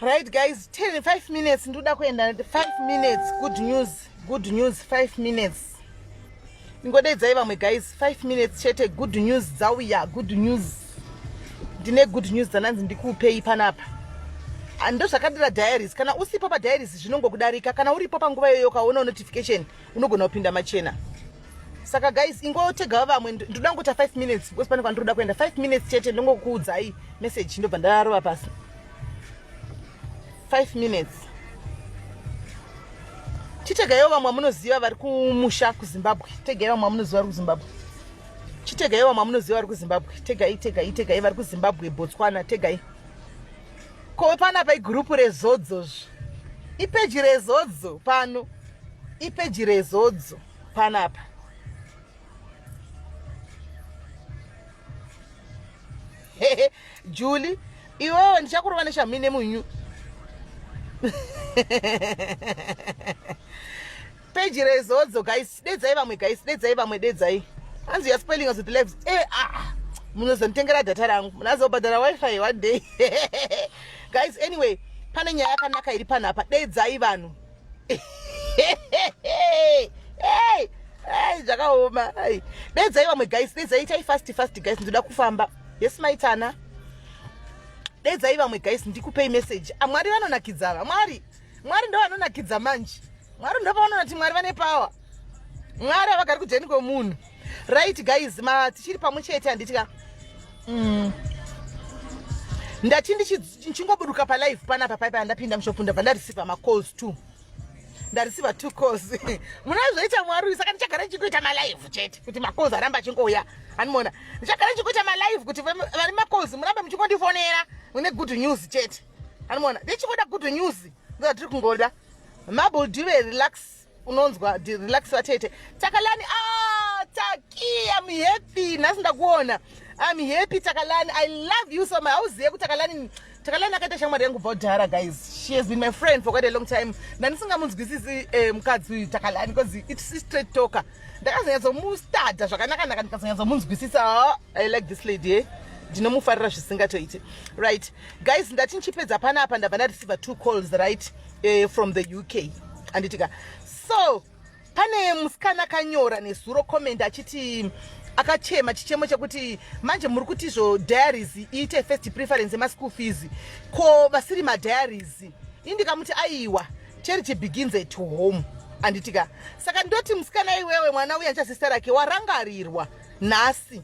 right guys 10 5 minutes ndoda kuenda 5 minutes good news good news 5 minutes ndingodaidzai vamwe guys 5 minutes chete good news dzauya good news ndine good news dzananzi ndikuupei panapa ah, ndozvakadira diaries kana usipo padiaries zvinongokudarika kana uripo panguva iyoyo ukaona notification unogona kupinda machena saka guys ingotega vamwe ndoda ngota 5 minutes because pane kwandiroda kuenda 5 minutes chete ndongokuudzai message ndobva ndarova pasi 5 minutes chitegaiwo vamwe vamunoziva vari kumusha kuzimbabwe tegaiwo vamwe vamunoziva vari kuzimbabwe chitegaiwo vamwe vamunoziva vari kuzimbabwe tegai tegai tegai vari kuzimbabwe botswana tegai ko pana pa igurupu rezodzo zvo ipeji rezodzo pano ipeji rezodzo panapa juli iwewe ndichakurova neshamine munyu peji rezodzo guys dedzai vamwe guys dedzai vamwe dedzai hanzi youare spelling us with legs e eh, a ah, munozonditengera data rangu munazobhadhara wifi one day guys anyway pane nyaya yakanaka iri panapa dedzai vanhu zvakaoma dedzai vamwe guys dedzai itai fast fast guys ndoda kufamba yes maitana dedzai vamwe guys ndikupei message amwari ah, vanonakidza va mwari mwari ndo vanonakidza manje mwari ndo pavanonati mwari vane power mwari havagari kujeni kwemunhu right guys ma tichiri pamwe chete handiti ka mm. ndati ndichingoburuka palive panapa paipa yandapinda mushopu ndabva ndareceiva macalls two ndareceiva two calls munazoita mwari uyu saka ndichagara ndichikuita malive chete kuti macalls aramba achingouya animoona ndichagara ndichikuita malive kuti vari macalls murambe muchingondifonera mune good news chete animoona ndichingoda good news ndoda tiri kungoda mable dive relax unonzwa relax vatete takalani ah, taki am happy nhasi ndakuona am happy takalani i love you so much hauzive kuti takalani takalani akaita shamwari yangu kubva kudhara guys she has been my friend for quite a long time ndandisingamunzwisisi eh, mukadzi uyu takalani because it's straight talker ndakazonyatsomustada zvakanakanaka ndikazonyatsomunzwisisa ah, i like this lady eh? ndinomufarira zvisingatoiti right guys ndati ndichipedza panapa ndabva ndareceiver two calls right eh, from the uk anditika so pane musikana akanyora nezuro comment achiti akachema chichemo chekuti manje muri kuti izvo diaries iite first preference emaschool fees ko vasiri madiaries ini ndikamuti aiwa charity begins at home anditika saka ndoti musikana iwewe mwana uya nchasista rake warangarirwa nhasi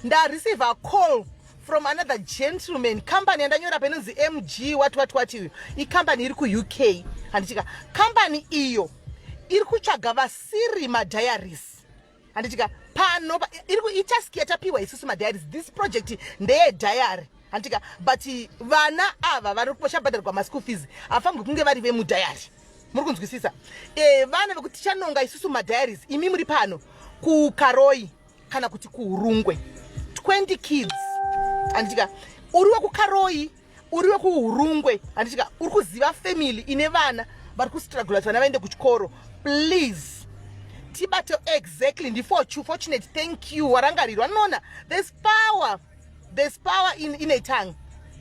ndareceive acall from another gentleman company yandanyora painonzi mg wati wati wati uyo icompany iri kuuk handitika company iyo iri kutsvaga vasiri madiaries handitika pano iri kuitask yatapiwa isusu madiaries this project ndeye diary handitika but vana ava vari vachabhadharwa maschool fees hafambi kunge vari vemudayari muri kunzwisisa e, vana vekuti tichanonga isusu madiaries imi muri pano kukaroi kana kuti kuhurungwe 20 kids handitika uri wekukaroyi uri wekuhurungwe handitika uri kuziva family ine vana vari kustrugula kuti vana vaende kuchikoro please tibate exactly ndifochu fortunate thank you warangarirwa noona there's power there's power in, in a tongue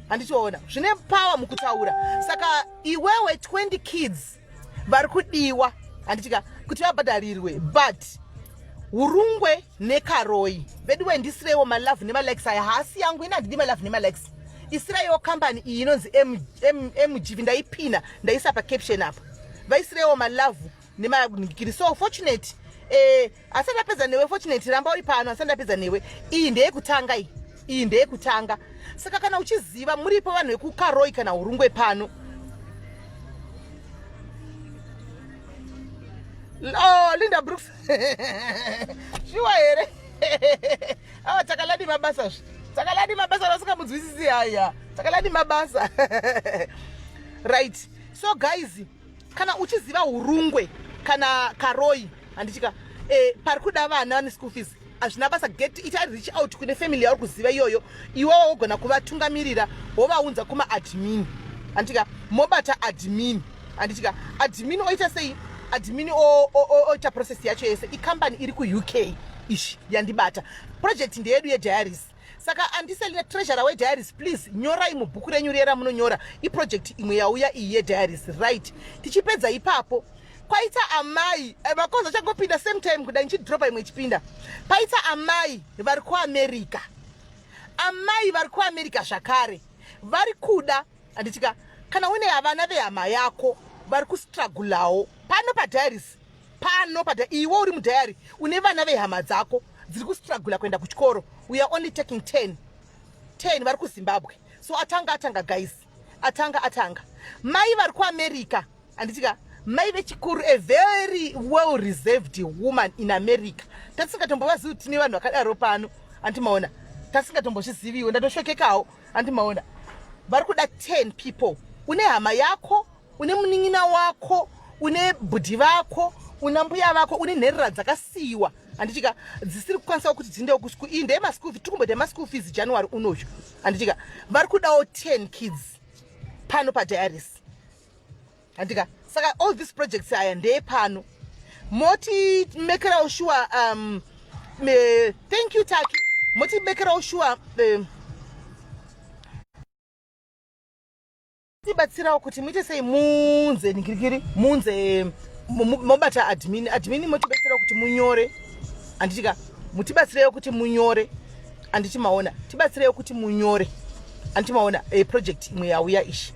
handitoona zvine power mukutaura saka iwewe 20 kids vari kudiwa handitika kuti vabhadharirwe but urungwe nekaroi veduwe ndisireiwo malove nemalikes aya haasi yangu ini handidi malove nemalikes isireiwo kambani iyi inonzi mgv ndaipina ndaisa pacaption apa vaisireiwo malove nemagirisi so fortunate eh, asi ndapedza newe fortunate ramba uri pano asi ndapedza newe iyi ndeyekutanga iyi iyi ndeyekutanga saka kana uchiziva muripo vanhu vekukaroi kana urungwe pano oh, linda brooks shuwa here awa takaladi mabasa zvi takaladi mabasa rasingamudzwisisi haya takaladi mabasa right so guys kana uchiziva urungwe kana karoi handichika eh, pari kuda vana vane school fees hazvina basa get it ari reach out kune family yauri kuziva iyoyo iwewo wogona kuvatungamirira wovaunza kuma admin handichika mobata admin handichika admin oita sei admin oita process yacho yese ikambani iri kuuk ishi yandibata project ndeyedu yediaris saka andiselina treasurer wediaries please nyorai mubhuku renyu riye ramunonyora iproject imwe yauya iyi yediaries right tichipedza ipapo kwaita amai eh, makoza changopinda same time kuda ndichidropa imwe ichipinda paita amai vari kuamerica amai vari kuamerica zvakare vari kuda anditika kana une havana vehama yako vari kustragulawo pano padiaries pano pada iwe uri mudhayari une vana vehama dzako dziri kustragula kuenda kuchikoro we are only taking 10 10 vari kuzimbabwe so atanga atanga guys atanga atanga mai vari kuamerica anditika mai vechikuru a very well reserved woman in america tatisingatombovazii kuti tine vanhu vakadaro pano andimaona tasingatombozviziviwo ndatoshokekawo andimaona vari kuda 10 people une hama yako une munin'ina wako une bhudhi vako una mbuya vako une nherera dzakasiyiwa handitika dzisiri kukwanisa kuti dziindewo kuschool iyi ndeye maschool fees tikumboita maschool fees january unoyu handitika vari kudawo 10 kids pano padiaris handitika saka all these projects aya ndeye pano moti mekerawo shuwa um, me, thank you taki moti mekerawo shuwa um, tibatsirawo kuti muite sei munze ningirigiri munze mobata admin admin motibatsirawo kuti munyore anditika mutibatsirewo kuti munyore anditi maona tibatsirewo kuti munyore anditi maona e, project imwe yauya ishi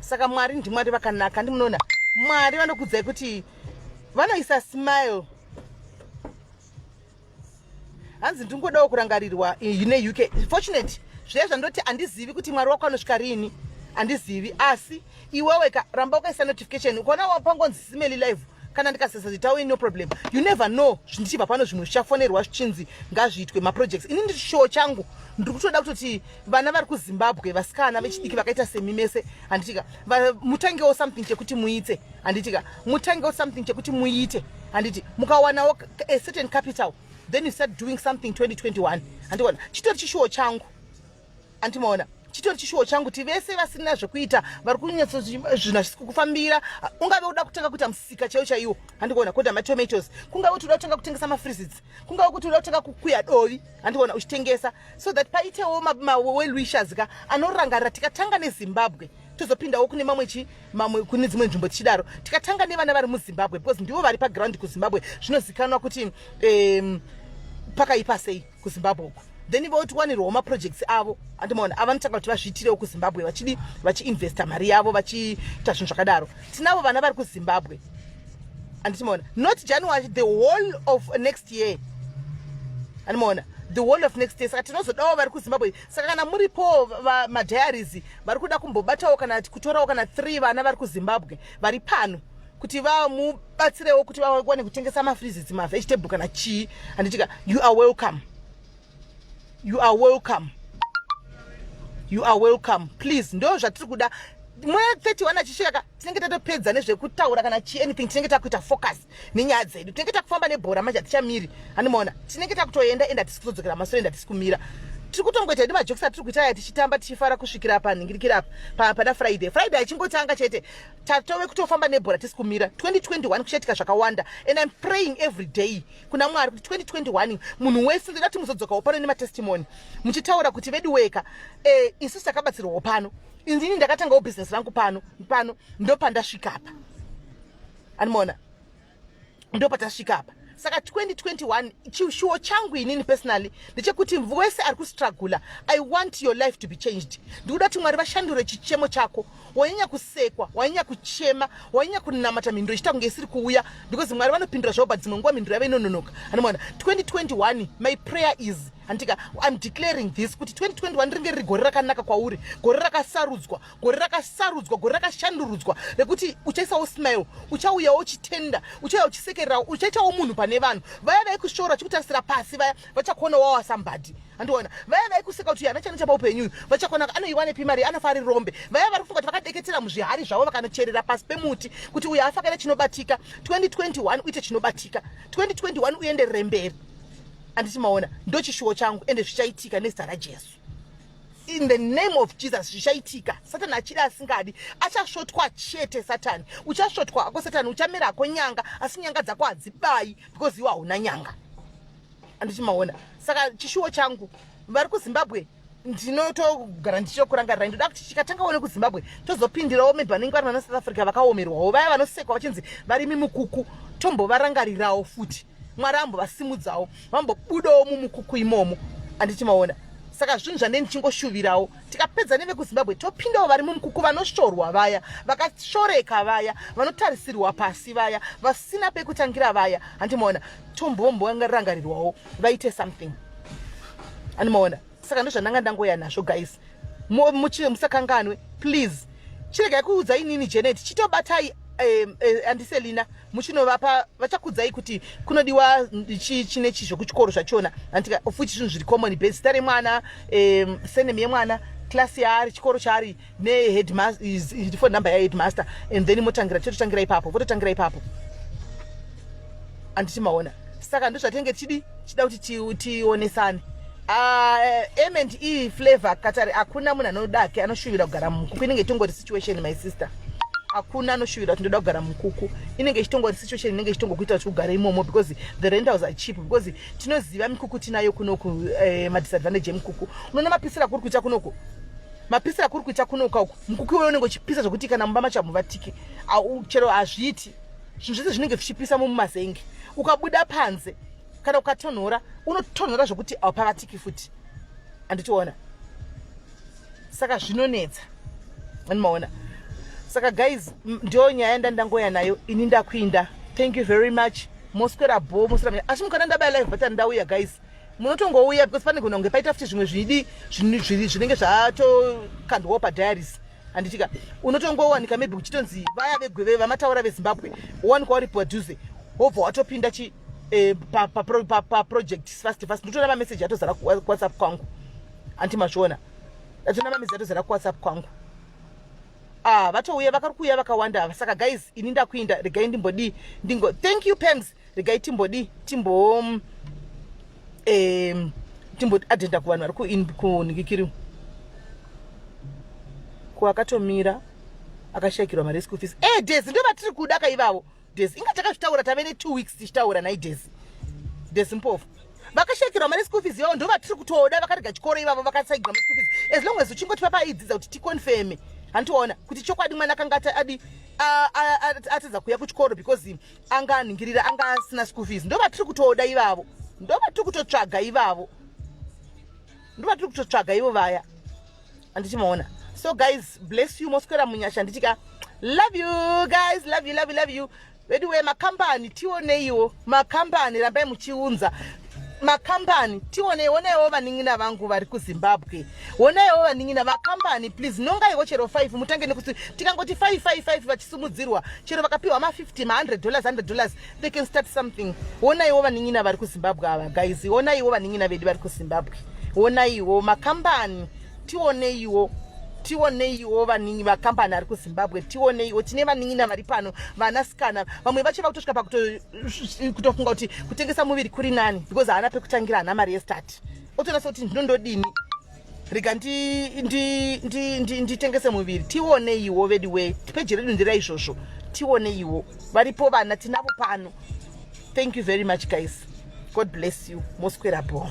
saka mwari ndimwari vakanaka ndi munoona mwari vanokudzai kuti vanoisa smile hanzi ndingodawo kurangarirwa ine uk fortunate zviya zvandoti handizivi kuti mwari wako anosvika riini handizivi asi iwewe ka ramba ukaisa notification ukaona wapangonzi simeli live kana ndikasesa kuti tawe no problem you never know zvindichibva pano zvimwe zvichafonerwa zvichinzi ngazviitwe maprojects ini ndiri shuwo changu ndiri kutoda kutoti vana vari kuzimbabwe vasikana vechidiki vakaita semi mese handitika mutangewo something chekuti muite handitika mutangewo something chekuti muite handiti mukawanawo a certain capital then you start doing something 2021 handiona chitori chishuwo changu andimaona chitori chishuwo changu kuti vese vasina zvekuita vari kunyatso zvinhu hazvisi kukufambira ungave uda kutanga kuita musika chaiwo chaiwo handikuona kuda matomatoes kungave kuti uda kutanga kutengesa mafreezits kungave kuti uda kutanga kukuya dovi handikuona uchitengesa so that paitewo mawelwishers ka anorangarira tikatanga nezimbabwe tozopindawo kune mamwe chi mamwe kune dzimwe nzvimbo tichidaro tikatanga nevana vari muzimbabwe because ndivo vari paground kuzimbabwe zvinozikanwa kuti um, pakaipa sei kuzimbabwe uku then votiwanirwawo maprojects avo andimaona avanotsvaga kuti vazviitirewo kuzimbabwe vachidi vachiinvesta mari yavo vachiita zvinhu zvakadaro tinavo vana vari kuzimbabwe anditimaona not january the whole of next year andimaona the whole of next year saka tinozodawo vari kuzimbabwe saka kana muripowo vamadiaries vari kuda kumbobatawo kana kutorawo kana three vana vari kuzimbabwe vari pano kuti vamubatsirewo kuti vawane kutengesa mafreezes mavegetable kana chii handitika you are welcome you are welcome you are welcome please ndo zvatiri kuda mwe 31 achisvika tinenge tatopedza nezvekutaura kana chi anything tinenge takuita focus nenyaya dzedu tinenge takufamba nebhora manje hatichamiri hanimaona tinenge takutoenda enda tisi kutodzokera masoro enda tisi kumira tiri kutongoita hedu majokisi atiri kuita aya tichitamba tichifara kusvikira apa nhingirikira apa pana friday friday achingotanga chete tatove kutofamba nebhora tisi kumira 2021 kuchaitika zvakawanda and im praying every day kuna mwari kuti 2021 munhu wese ndoda kuti muzodzokawo pano nematestimony muchitaura kuti vedu weka e, isu takabatsirwawo pano inini ndakatangawo business rangu pano pano ndopandasvika apa animoona ndopatasvika apa saka 2021 chishuwo changu inini personally ndechekuti wese ari kustragula i want your life to be changed ndikuda kuti mwari vashandure chichemo chako wanyanya kusekwa wanyanya kuchema wanyanya kunamata mhinduro ichiita kunge isiri kuuya because mwari vanopindura zvaoba dzimwe nguva mhinduro yave inononoka anomwana 2021 my prayer is handika im declaring this kuti 2021 ringe riri gore rakanaka kwauri gore rakasarudzwa gore rakasarudzwa gore rakashandurudzwa rekuti uchaisawo smile uchauyawo uchitenda uchauya uchisekererawo uchaitawo munhu pane vanhu vaya vaikushora vachikutarisira pasi vaya vachakuona wawa sambadi andiona vaya vaikuseka kuti ana chana chapa upenyuyu vachakonaka anoiwanepi mari anofa ari rombe vaya vari kufunga kuti vakadeketera muzvihari zvavo vakanocherera pasi pemuti kuti uyo afakaita chinobatika 2021 uite chinobatika 2021 uenderere mberi anditi maona ndochishuwo changu ende zvichaitika nezita rajesu in the name of jesus zvichaitika satani achiri asingadi achasvotwa chete satani uchasvotwa hako satani uchamera hako nyanga asi nyanga dzako hadzibayi because iwo hauna nyanga anditi maona saka chishuwo changu vari kuzimbabwe ndinotogara ndichitokurangarira ndoda kuti chikatanga one kuzimbabwe tozopindirawo maybe vanenge vari vana south africa vakaomerwawo vaya vanosekwa vachinzi vari mimukuku tombovarangarirawo futi mwari ambovasimudzawo vambobudawo mumukuku imomo anditi maona saka zvinhu zvandei ndichingoshuvirawo tikapedza nevekuzimbabwe topindawo vari mumukuku vanoshorwa vaya vakashoreka vaya vanotarisirwa pasi vaya vasina pekutangira vaya handimoona tombomborangarirwawo vaite something animaona saka ndozvandanga ndangoya nazvo guys muchie musakanganwe please chiregai kuudza inini janet chitobatai eh, eh, andiselina muchinovapa vachakudzai kuti kunodiwa chi chine chi zvekuchikoro zvachona antika futi zvinhu zviri common base zita remwana eh, senem yemwana klasi yaari chikoro chaari neheadmasterfone number yaheadmaster and then motangira chototangira ipapo vototangira ipapo anditi maona saka ndozvatenge tichidi tichida kuti tionesane ah, eh, ament e flavor katari hakuna munhu anodake anoshuvira kugara mukuku inenge itongori situation my sister hakuna anoshuvira kuti ndoda kugara mukuku inenge ichitongori situation inenge ichitongo kuita kuti ugare imomo because the rentals are cheap because tinoziva mikuku tinayo kunoku eh, madisadvantage emukuku unoona mapisira kuri kuita kunoku mapisa akuri kuita kunoka uku mukuki uyo unenge uchipisa zvekuti kana mumba macho hamuvatike chero hazviiti zvinhu zvese zvinenge zvichipisa mumumazenge ukabuda panze kana ukatonhora unotonhora zvekuti haupavatiki futi anditiona saka zvinonetsa andimaona saka guys ndiyo nyaya ndandangoya nayo ini ndakuinda thank you very much moswera bho moswera asi mukana ndabaya live button ndauya guys munotongouya because pane gona kunge paita futi zvimwe zvidi zvinenge zvatokandwawo padiaries handitika unotongowanika maybe uchitonzi vaya vegweve vamataura vezimbabwe wowanika wari padhuze wobva watopinda chi eh, paproject fast fast ndotoona mameseji atozara kuwhatsapp kwangu anti mazviona ndatoona mameseji atozara kuwhatsapp kwangu ah vatouya vakari kuuya vakawanda saka guys ini ndakuinda regai ndimbodii ndingo thank you pams regai timbodii timbo um, timboti adhenda kuvanhu vari kunhikikiri ko akatomira akashayikirwa mari yeschool fees e desi ndo vatiri kuda ka ivavo desi inga takazvitaura tave netwo weeks tichitaura nhai desi desi mpofu vakashayikirwa mari yeschool fees ivavo ndo vatiri kutoda vakarega chikoro ivavo vakasaigirwa mari school fees as long as uchingoti vapaidzidza kuti ticonfirme handiona kuti chokwadi mwana akanga adi atadza kuuya kuchikoro because anga anhingirira anga asina school fees ndo vatiri kutoda ivavo ndo vatiri kutotsvaga ivavo ndo vatiri kutotsvaga ivo vaya andichimaona so guys bless you moswera munyasha anditi ka love you guys love you love you love you veduwe makambani tioneiwo makambani rambai muchiunza makambani tione onaiwo vanin'ina vangu vari kuzimbabwe onaiwo vanin'ina vakambani please nongaiwo chero 5 mutange nekuti tikangoti 555 vachisumudzirwa chero vakapiwa ma50 ma100 dollars 100 dollars they can start something onaiwo vanin'ina vari kuzimbabwe ava guys onaiwo vanin'ina vedu vari kuzimbabwe onaiwo makambani tioneiwo tioneiwo vaningi vakambani ari kuzimbabwe tioneiwo tine vanin'ina vari pano vanasikana vamwe vacho vakutosvika pakuto kutofunga kuti kutengesa muviri kuri nani because haana pekutangira hana mari yestart otoona sekuti ndinondodini rega nditengese muviri tioneiwo vedi we peji redu ndira izvozvo tioneiwo varipo vana tinavo pano thank you very much guys god bless you moswera bho